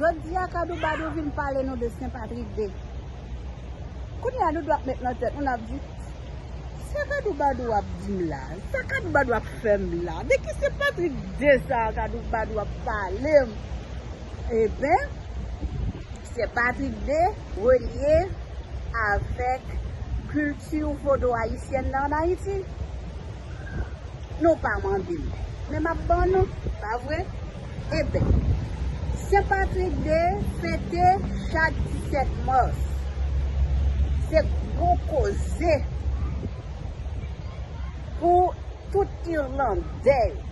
Jodi a kadoubadou vin pale nou de sen patrik de Kounye a nou dwa ap met nan tèt nou nap di Sa kadoubadou ap dim la Sa kadoubadou ap fèm la De ki sen patrik de sa kadoubadou ap palem Eben Sen patrik de relye avèk kilti vodou ayisyèn nan an ayiti Nou pa mandem men map ban nou pa vre Eben, Sen Patrik de fete chak 17 mars. Se gwo koze pou tout Irlandè yo.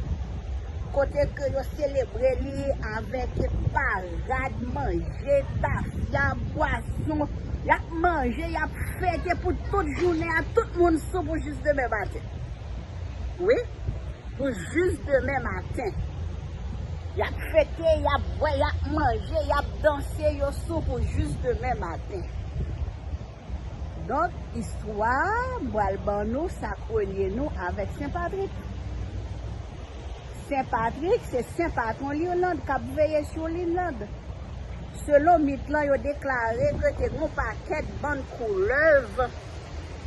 Kote ke yo selebre li avèk parad, manje, tafya, bwason. Y ap manje, y ap fete pou tout jounen an. Tout moun sou pou jis demen maten. wi pou jis demen maten. Yap fete, yap bwè, yap manje, yap danse, yo sou pou jis demen maten. Donk, istwa a, m pral ban nou sa k relye nou avèk Sen Patrik. Sen Patrik, se sen patwon Lirland k ap veye sou Lirland. Selon mit lan, yo deklare ke te gen yon pakèt bann koulèv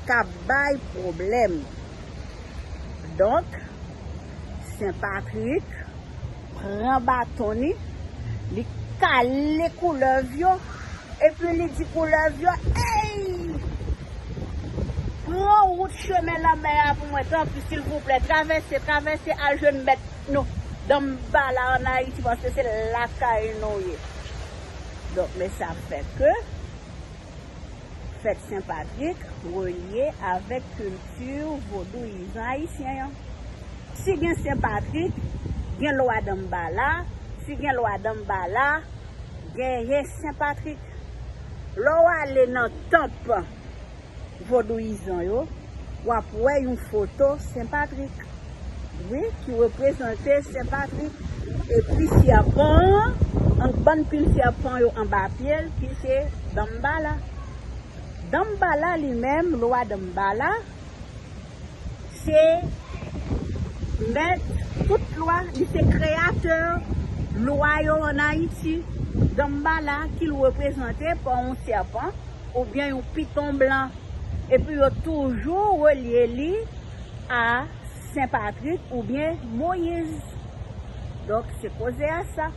k ap bay pwoblèm. Donk, Sen Patrik pran baton li, li kale koulèv yo, epi li di koulèv yo, Ey! Pran wout chemen lanmè a pou mwen, tanpri, silvouplè, travèse, travèse al jwenn mèt nou, Danmbala, ann Ayiti, paske se lakay nou ye. Donk, men sa fè ke. Fèt Sen Patrik relye avèk kilti vodouyizan ayisyen an. Si gen Sen Patrik, gen Lwa Danmbala, si gen Lwa Danmbala, genyen Sen Patrik. Lè w ale nan tanp vodouyizan yo, wap wè yon foto Sen Patrik wi ki reprezante Sen Patrik epi sèpan an ank bann pil sèpan yo anba pye l ki se Danmbala. Danmbala li menm, Lwa Danmbala, se mèt tout lwa, li se kreyatè lwa yo an Ayiti. Danmbala ki reprezante pa yon sèpan. oubyen yon piton blan, epi yo toujou relye li a Sen Patrik oubyen Moyiz. Donk se koze a sa.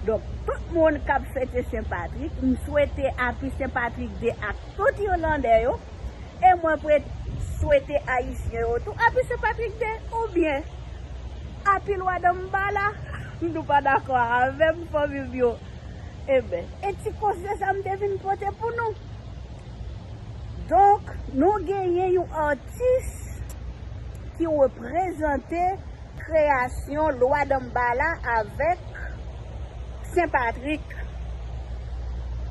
Donk tout moun k ap fete Sen Patrik, m swete Api Sen Patrik De ak tout Irlandè yo, e mwen swete Ayisyen yo tou Api Sen Patrik De, oubyen Api Lwa Danmbala, nou pa dakò avè m fanmi m yo? Eben, e ti konsye sa m te vin pote pou nou. Donk, nou genyen yon atis ki reprezante kreyasyon Lwa Danmbala avèk Sen Patrik.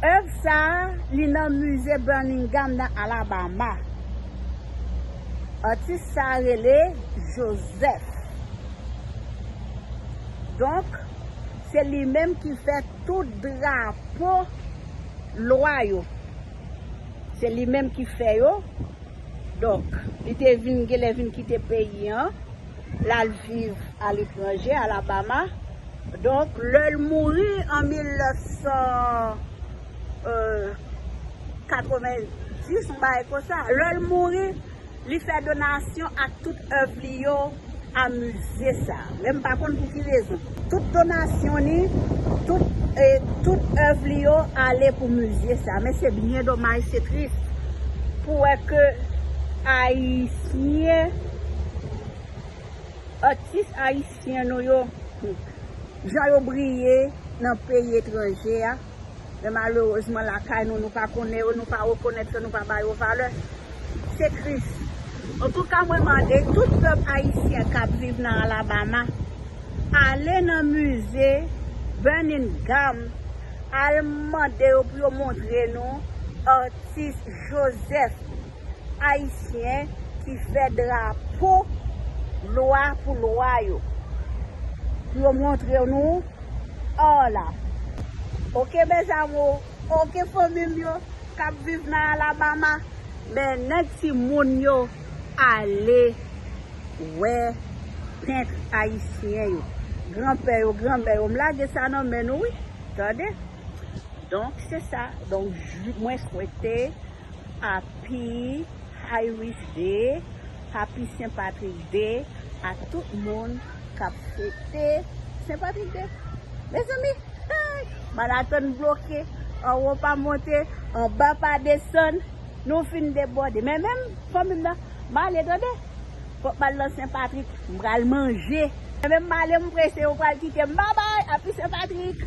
Èv sa a, li nan Mize Birmingham nan Alabama. Atis sa a rele Joseph. Donk, Se li menm ki fè tout drapo lwa yo. Se li menm ki fè yo. Donk, li te vin gen lè vin kite peyi an, l al viv aletranje, Alabama. Donk, lè l mouri an 1990, yon bagay konsa, lè l mouri, Li fè donasyon ak tout èv li yo a mize sa. Men m pa konn pou ki rezon. Tout donasyon li, tout e tout èv li yo ale pou mize sa. Men se byen domaj, se tris pou wè ke ayisyen, atis ayisyen nou yo, jan yo briye nan peyi etranje a. Men malerezman lakay nou, nou pa konnen yo, nou pa rekonèt yo, nou pa ba yo valè. Se tris. Antouka mwen mande tout pèp ayisyen kap viv nan Alabama, ale nan mize Birmingham, al mande yo pou yo montre nou Artist Joseph Ayisyen ki fè drapo lwa pou lwa yo. Pou yo montre nou or la. Ok mes amours, ok fanmi m yo kap viv nan Alabama. Men nèg ti moun yo ale wè pent ayisyen yo. Gran pè yo, gran mè yo. M lage sa nan men nou wi. Tande. Donk se sa. Donk mwen swete. Api Irish Day, Api Sen Patrik Day a tout moun kap fete Sen Patrik Day. Mezanmi hey! Marathon bloke, anwo pa monte, anba pa desann, nou fin debòde. Men menm fanmi m nan, m ale tande, fòk m al nan Sen Patrik, m pral manje. Men menm m ale m prese yo pral kite m, babay, Api Sen Patrik!